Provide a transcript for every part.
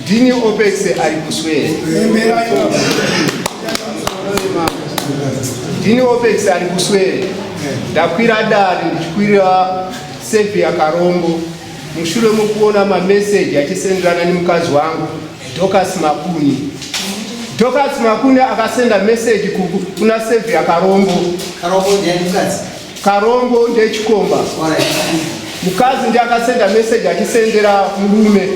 ndini opex ari kuswera ndini opex ari kuswera ndakwira dare ndichikwira sevi yakarombo mushure mokuona mameseji achisenderana nemukadzi wangu docas makuni docas makuni akasenda meseji kuna sevi yakarombo Karombo ndechikomba. Mukadzi ndiye akasenda message achisendera murume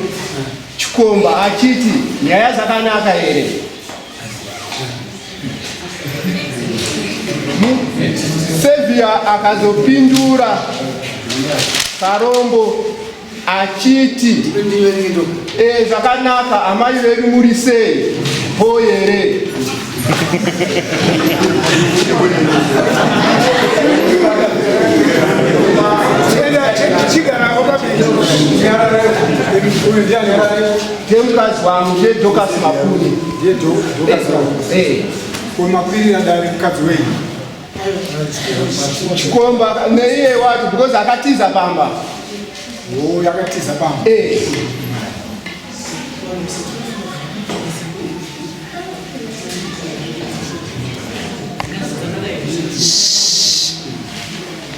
chikomba achiti nyaya dzakanaka here? Sevia akazopindura Karombo achiti e, zvakanaka amai vedu muri sei po here ndemukadzi wangu ndedokasi mapuni kumakwirira dare mukadzi wenyu chikomba neiye wacho because akatiza pamba oh, yakatiza pamba eh.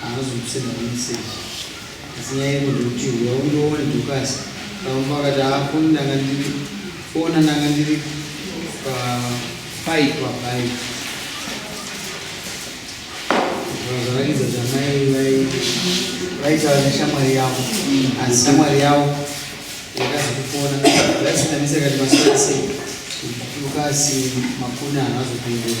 Haana kuzokusenda pameseji asi nyaya iri ndeyekuti huya undione Dorcas Kaumba akati haa foni ndanga ndiri fona ndanga ndiri paipa pai zvavaridza zvamai vaitaura neshamwari yavo asi shamwari yavo yakazokufona vaisitanisa kati masoasei ukasi makuna haazopindura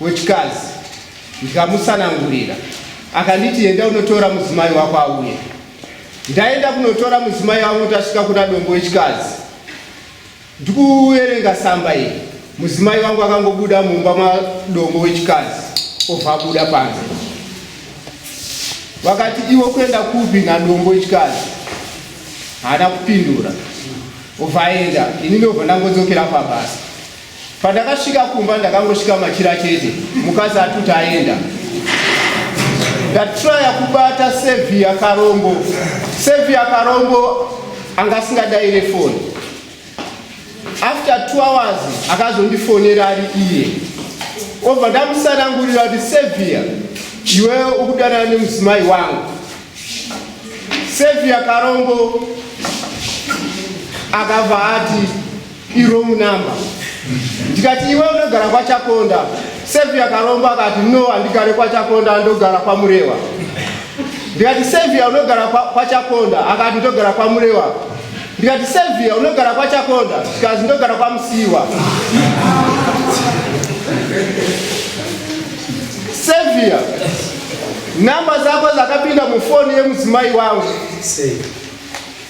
wechikazi ndikamusanangurira akanditi enda unotora mudzimai wako auye ndaenda kunotora mudzimai wangu tasvika kuna dombo wechikazi ndikuverenga samba iri mudzimai wangu akangobuda mumba madombo wechikazi obva abuda panze vakati iwo kuenda kupi nadombo wechikazi haana kupindura obva aenda ini ndobva ndangodzokera pabasa Pandakasvika kumba ndakangosvika machira chete mukadzi atuti aenda ndatraya kubata sevia karombo sevia karombo anga asingadaire foni after two hours akazondifonera ari iye obva ndamusanangurira kuti sevia iwe ukudanana nemudzimai wangu sevia karombo akabva ati irong number ndikati iwe unogara kwachakonda sevia karomba akati no handigare kwachakonda ndogara kwamurewa ndikati sevia unogara kwachakonda akati ndogara kwamurewa ndikati sevia unogara kwachakonda ndikazi ndogara kwamusiwa sevia namba zako zakapinda mufoni yemudzimai wangu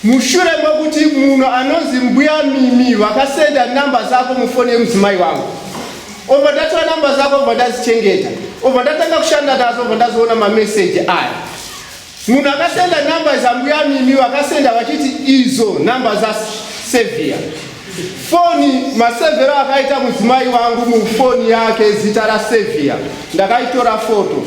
Mushure mekuti munhu anonzi mbuya Mimi vakasenda namba zako mufoni yemudzimai wangu obva ndatora namba zako obva ndazichengeta obva ndatanga kushanda nazo obva ndazoona mameseji aya munhu akasenda namba zambuya Mimi vakasenda vachiti izo namba zasevhiya foni masevhero akaita mudzimai wangu mufoni yake zita rasevhiya ndakaitora foto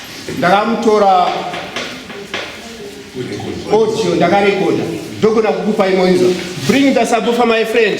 ndakamutora audio ndakarekoda ndogona kukupa imoinza bring the subwoofer my friend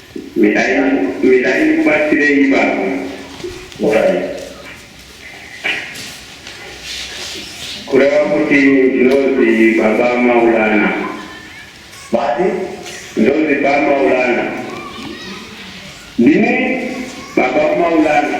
Mirai mirai ndikubatsirei baba. Mirai. Kureva kuti ndinozi baba Maulana. Vati? Ndozi baba Maulana. Ndini baba Maulana.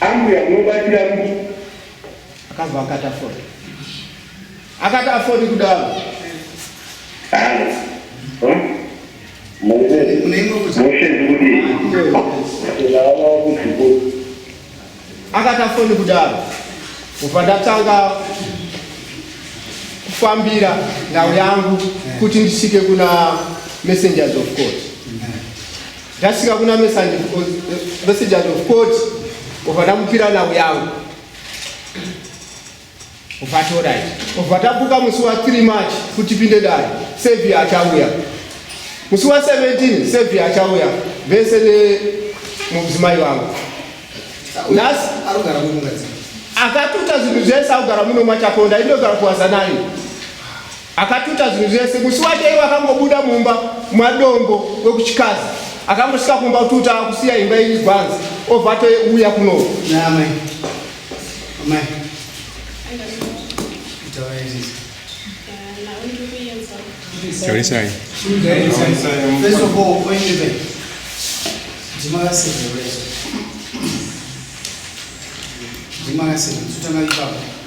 Ambuya munobatira kuti akabva akati afodi akati afodi kudaro akati afodi kudaro kubva ndatanga kufambira ndau yangu kuti ndisvike kuna messengers of court Ndasvika kuna messengers of court obva ndamupira nhau yangu obva torai obva tabuka musi wa 3 march kuti pinde dai sevi achauya musi wa 17 sevi achauya vese nemudzimai vangu nhasi arugara munhu akatuta zvinhu zvese akugara muno machakonda inogara kuwazanani Akatuta zvinhu zvese. Musi wacho iwe akangobuda mumba mwadongo wekuchikazi akangosvika kumba kututa kusiya imba iri gwanzi obva touya kuno Tarisai. First of all, when you make, Jimara said the rest. Jimara said, Tutana Ibaba.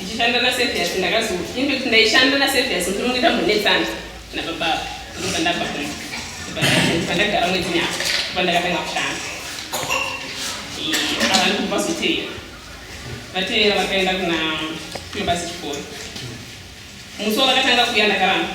ndichishanda nasevias ndakazo infact ndaishanda nasevias ndiri kuita mbonetsana nababa ndobva ndabva kuno pandagara mwedzi nyaka pandakatanga kushanda ava ndikubva zoteera vateera vakaenda kuna mabasa chikoro musi wavakatanga kuya ndakaramba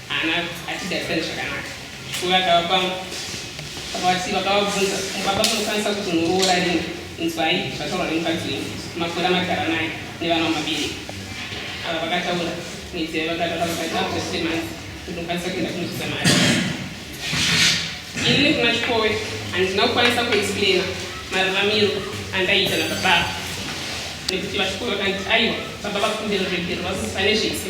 Haana atigarisani zvakanaka. Uyo akava pangu. Vakavati vakavabvunza baba munokwanisa kuti munoroora rini. Inzwai zvataurwa nemukadzi wenyu. Makore amagara naye nevana vamabiri. Ava vakataura nedzeve vakataura vakati after three months kuti mukwanisa kuenda kunobvisa mari. Ini nekuna Chikowe handina kukwanisa kuexplaina mararamiro andaiita nababa nekuti vachikowe vakanditi aiwa baba vakumbira ruregerero vakuti pane zvese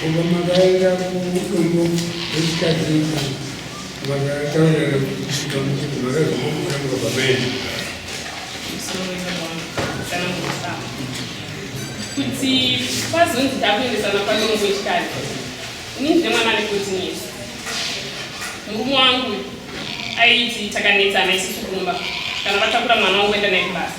Kubva makaenda kudumbu rechikadzi vakataurira kusvika muchiti makazomuona mukabva maenda kuti pazonzi takuendesana padumbu rechikadzi ini ndine mwana ane kutinisa murume wangu aiti takanetsana isusu kumba kana vatakura mwana wangu kuenda naye kubasa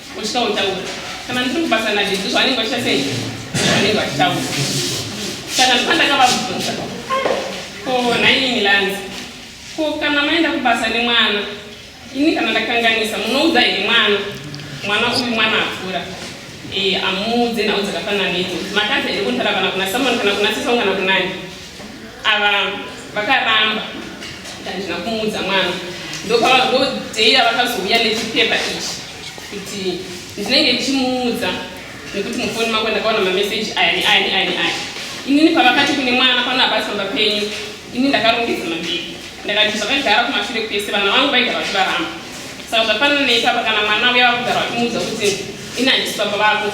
Uchitya kutaura. Kana ndiri kubasa nadhidhi zvavanenge vachita sei? Zvavanenge vachitaura. Saka ndipandakavabvunza. Ko nhaimi Milanzi. Ko kana maenda kubasa nemwana. Ini kana ndakanganisa munoudza here mwana. Mwana uyu mwana akura. Eh amuudze nhau dzakafanana nedzo. Makadzi here kunotara kana kuna Samuel kana kuna Sisong kana kunani. ava vakaramba handina kumuudza mwana ndopavadhokodheya vakazouya nechipepa ichi kuti ndinenge ndichimuudza nekuti mufoni mako ndakaona mameseji aya neaya neaya neaya inini pavakati kune mwana pano abasi pamba penyu ini ndakarongedza mabhii ndakati zvakagara kumashure kwese vana vangu vaigara vachivaramba saka zvafanana neipapa kana mwana uya vakugara vachimuudza kuti ini handisi pamba vako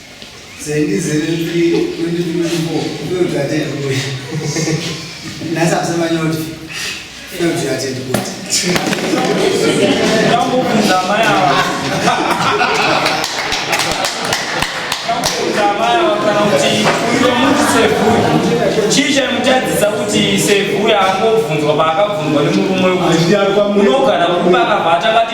chii chaimutadzisa kuti sevhuya angobvunzwa paakabvunzwa nemurume unogara kuba akabva atanga